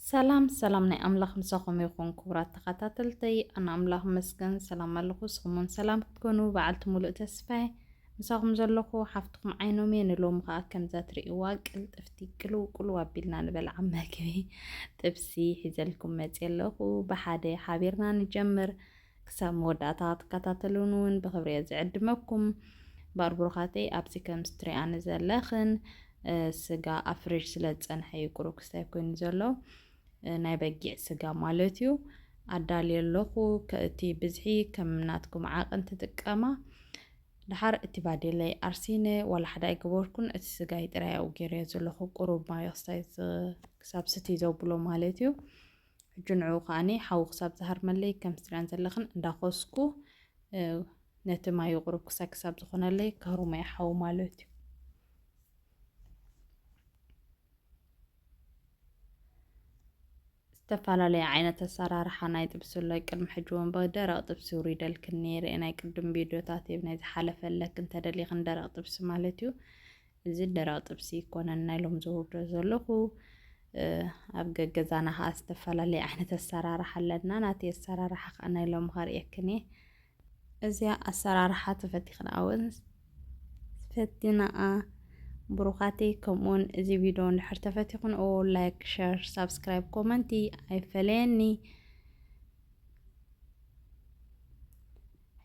ሰላም ሰላም ናይ ኣምላኽ ምሳኹም ይኹን ክቡራት ተኸታተልተይ፣ ኣነ ኣምላኽ መስገን ሰላም ኣለኹ። ንስኹም እውን ሰላም ክትኮኑ በዓልቲ ሙሉእ ተስፋ ምሳኹም ዘለኹ ሓፍትኹም ዓይኖም እየ። ንሎሚ ከዓ ከምዛ ትርእይዋ ቅልጥፍቲ ቅልው ቅልው ኣቢልና ንበልዓ መግቢ ጥብሲ ሒዘልኩም መፅየ ኣለኹ። ብሓደ ሓቢርና ንጀምር። ክሳብ መወዳእታ ክትከታተሉኒ ውን ብክብሪ እየ ዝዕድመኩም እምበር ብሩካተይ ኣብዚ ከምዚ ትሪኣኒ ዘለክን ስጋ ኣብ ፍሪጅ ስለ ዝፀንሐ እዩ ቁሩብ ክስታይ ኮይኑ ዘሎ ናይ በጊዕ ስጋ ማለት እዩ ኣዳልየ ኣለኩ እቲ ብዝሒ ከም ናትኩም ዓቅን ትጥቀማ ድሓር እቲ ባዴለይ ኣርሲነ ዋላ ሓደ ኣይገበርኩን እቲ ስጋይ ጥራይ ኣብኡ ገይረዮ ዘለኩ ቁሩብ ማዮ ክስታይ ክሳብ ስቲ ዘብሎ ማለት እዩ ሕጂ ንዕኡ ከኣ ሓዊ ክሳብ ዝሃርመለይ ከም ስድረን ዘለኽን እንዳኾስኩ ነቲ ማዩ ቁሩብ ክሳይ ክሳብ ዝኾነለይ ከህሩመይ ሓዊ ማለት እዩ ዝተፈላለየ ዓይነት ኣሰራርሓ ናይ ጥብሲ ኣሎ ቅድሚ ሕጂ እውን ብደረቕ ጥብሲ ውሪደልክን ነይረ ናይ ቅድም ቪድዮታት ናይ ዝሓለፈለክ እንተደሊኽን ደረቕ ጥብሲ ማለት እዩ እዚ ደረቕ ጥብሲ ኣይኮነን ናይ ሎም ዘውርዶ ዘለኹ ኣብ ገገዛና ከዓ ዝተፈላለየ ዓይነት ኣሰራርሓ ኣለና ናቲ ኣሰራርሓ ከዓ ናይ ሎም ከርእየክን እየ እዚኣ ኣሰራርሓ ተፈቲኽና እውን ፈቲናኣ ብሩኻተይ ከምኡውን እዚ ቪድዮ እንድሕር ተፈቲኽንኦ ላይክ ሸር ሳብስክራይብ ኮመንቲ ኣይፈለየኒ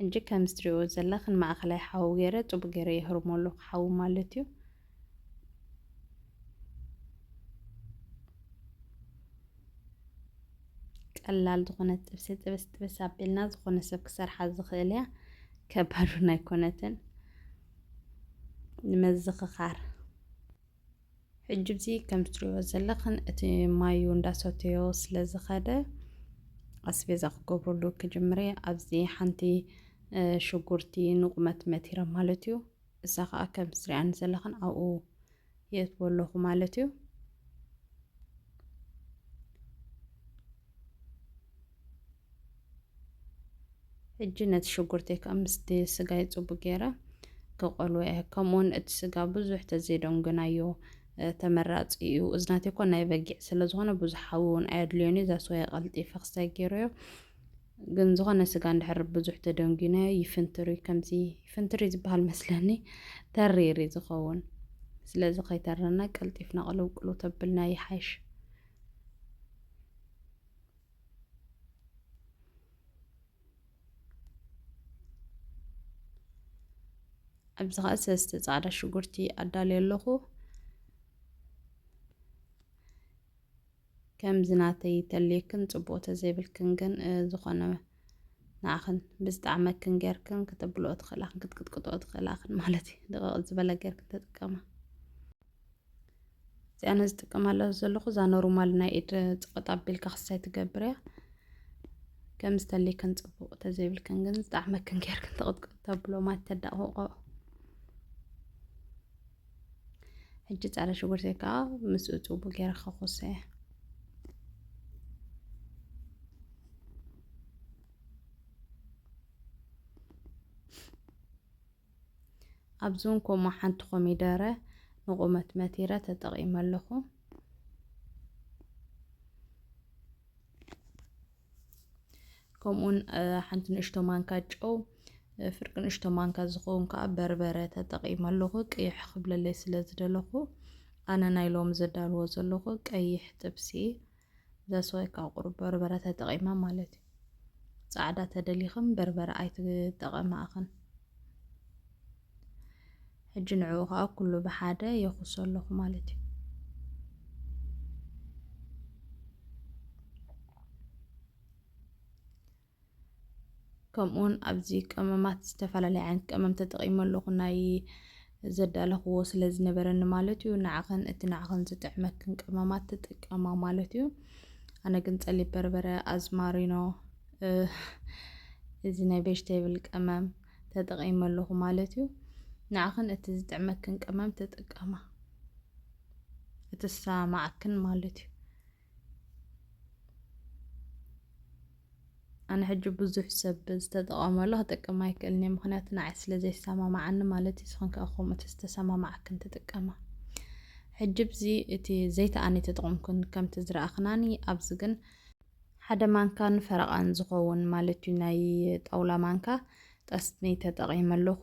ሕጂ ከምዚ ትሪእዎ ዘለክን ማእከላይ ሓዊ ገይረ ጽቡቅ ገይረ የህርሞ ኣለኩ ሓዊ ማለት እዩ። ቀላል ዝኾነት ጥብሲ ጥብስ ጥብስ ኣቢልና ዝኾነ ሰብ ክሰርሓ ዝኽእል እያ ከባዱን ኣይኮነትን ንመዝኽኻር ሕጅብዚ ከምትሪእዎ ዘለኽን እቲ ማዩ እንዳሰተዮ ስለ ዝኸደ ኣስቤዛ ክገብረሉ ክጅምረ ኣብዚ ሓንቲ ሽጉርቲ ንቑመት መቲረ ማለት እዩ እዛ ከዓ ከም ትሪኣኒ ዘለኽን ኣብኡ የእትዎ ኣለኹ ማለት እዩ ሕጂ ነቲ ሽጉርተይ ከኣ ምስቲ ስጋይ ጽቡቅ ጌረ ክቀልዎ እየ ከምኡውን እቲ ስጋ ብዙሕ ተዘይዶንግናዮ ተመራጺ እዩ እዚ ናተይ እኮ ናይ በጊዕ ስለ ዝኾነ ብዙሕ ሓዊ እውን ኣየድልዮን እዩ ዛስዋይ ቀልጢፈ ክሳይ ጌረዮ ግን ዝኾነ ስጋ እንድሕር ብዙሕ ተደንጒናዮ ይፍንትሪ ከምዚ ይፍንትሪ ዝበሃል መስለኒ ተሪሪ ዝኸውን ስለዚ ከይተረና ቀልጢፍና ቅልውቅሉ ተብልና ይሓይሽ ኣብዚ ከዓ ሰስቲ ፃዕዳ ሽጉርቲ ኣዳልዮ ኣለኹ ከምዚ ናተይ ተልየክን ፅቡቅ ተዘይብልክን ግን ዝኾነ ንዓኽን ብዝጣዕመክን ጌርክን ክተብልኦ ትኽእላክን ክትቅጥቅጥኦ ትኽእላክን ማለት እዩ ድቕቕ ዝበለ ጌርክን ተጥቀማ እዚኣ ኣነ ዝጥቀመላ ዘለኹ እዛ ኖርማል ናይ ኢድ ፅቕጥ ኣቢልካ ክሳይ ትገብር እያ ከም ዝተለይክን ፅቡቕ ተዘይብልክን ግን ዝጣዕመክን ጌርክን ተቕጥቅጥ ተብሎ ማት ተዳቕቆ ሕጂ ፃዕዳ ሽጉርቲ ከዓ ምስኡ ፅቡቅ ጌረ ከኾሰ እያ ኣብዚ እውን ከምኡ ሓንቲ ኮሚደረ ንቑመት መቲረ ተጠቒመ ኣለኹ። ከምኡውን ሓንቲ ንእሽቶ ማንካ ጨው ፍርቂ ንእሽቶ ማንካ ዝኸውን ከዓ በርበረ ተጠቒመ ኣለኹ ቅይሕ ክብለለይ ስለ ዝደለኹ ኣነ ናይ ሎሚ ዘዳልዎ ዘለኹ ቀይሕ ጥብሲ ዛስ ዋይ ካብ ቁሩብ በርበረ ተጠቒማ ማለት እዩ። ጻዕዳ ተደሊኽን በርበረ ኣይትጠቐማ እኽን። ሕጂ ንዕኡ ከዓ ኩሉ ብሓደ የኹሶ ኣለኹ ማለት እዩ። ከምኡውን ኣብዚ ቀመማት ዝተፈላለየ ዓይነት ቀመም ተጠቒመ ኣለኹ ናይ ዘዳለኽዎ ስለ ዝነበረኒ ማለት እዩ ንዓኸን እቲ ንዓኸን ዝጥዕመክን ቀመማት ትጥቀማ ማለት እዩ ኣነ ግን ጸሊብ በርበረ ኣዝማሪኖ እዚ ናይ ቬጅቴብል ቀመም ተጠቒመ ኣለኹ ማለት እዩ ንዓኸን እቲ ዝጥዕመክን ቀመም ትጥቀማ እቲ ዝሰማማዓክን ማለት እዩ ኣነ ሕጂ ብዙሕ ሰብ ዝተጠቐመሉ ክጠቅም ኣይክእልን እየ ምክንያቱ ንዓይ ስለ ዘይሰማማዓኒ ማለት እዩ ስኽን ከኣ ከምኡ ተዝተሰማማዓክን ትጥቀማ ሕጂ ብዚ እቲ ዘይተኣኒ ተጠቕምኩን ከምቲ ዝረኣኽናኒ ኣብዚ ግን ሓደ ማንካን ፈረቓን ዝኸውን ማለት እዩ ናይ ጣውላ ማንካ ጠስኒ ተጠቒመ ኣለኹ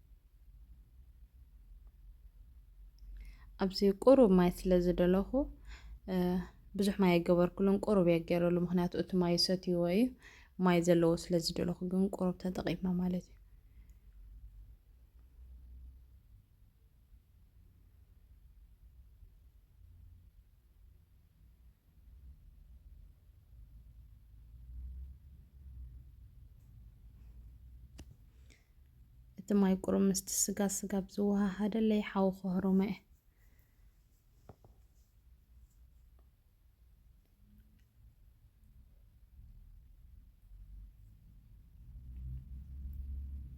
ኣብዚ ቁሩብ ማይ ስለ ዝደለኹ ብዙሕ ማይ ኣይገበርኩሉን፣ ቁሩብ እየ ገይረሉ። ምክንያቱ እቲ ማይ ሰትይዎ እዩ፣ ማይ ዘለዎ ስለ ዝደለኹ ግን ቁሩብ ተጠቒምና ማለት እዩ። እቲ ማይ ቁሩብ ምስቲ ስጋ ስጋብ ዝወሃሃደለይ ሓዊ ከህሩሞ'የ።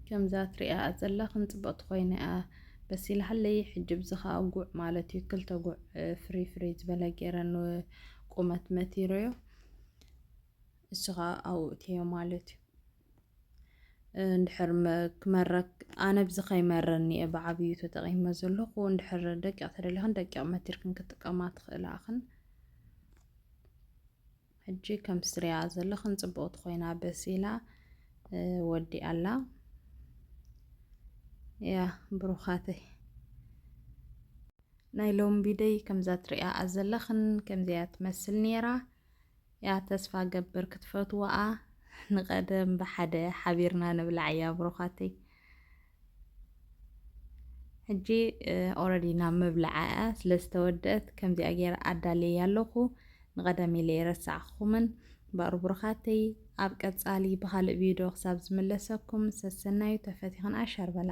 ከምዛ ትሪኣኣ ዘለኽን ጽብቕቲ ኮይና'ያ በሲላ'ለይ። ሕጂ ብዚ ከኣ ጉዕ ማለት'ዩ ክልተ ጉዕ ፍርይ ፍርይ ዝበለ ገይረ ንቁመት መቲረዮ። እሱ ከኣ ኣብኡ እእትየዮ ማለት'ዩ። እንድሕር ክመረክ ኣነ ብዚ ከይመረኒ እየ ብዓብዩ ተጠቒመ ዘለኹ እንድሕር ደቂቕ ተደሊኽን ደቂቕ መቲርክን ክጥቀማ ትኽእላ እኽን ሕጂ ከም ስሪያ ዘለኽን ፅብቕቲ ኮይና በሲላ ወዲ ኣላ ያ ብሩኻተይ ናይ ሎሚ ቢደይ ከምዛ ትሪኣ ዘለኽን ከምዚያ ትመስል ነይራ እያ ተስፋ ገብር ክትፈትዋኣ ንቀደም ብሓደ ሓቢርና ንብላዕ እያ ብሩኻተይ ሕጂ ኦረዲ ናብ ምብላዓ እያ ስለ ዝተወደአት ከምዚኣ ገይረ ኣዳልየያ ኣለኹ ንቀደም ኢለ የረሳዕኹምን ባሩ ብሩኻተይ ኣብ ቀጻሊ ብኻልእ ቪድዮ ክሳብ ዝምለሰኩም ሰሰናዩ ተፈቲኽን ኣሻር በላ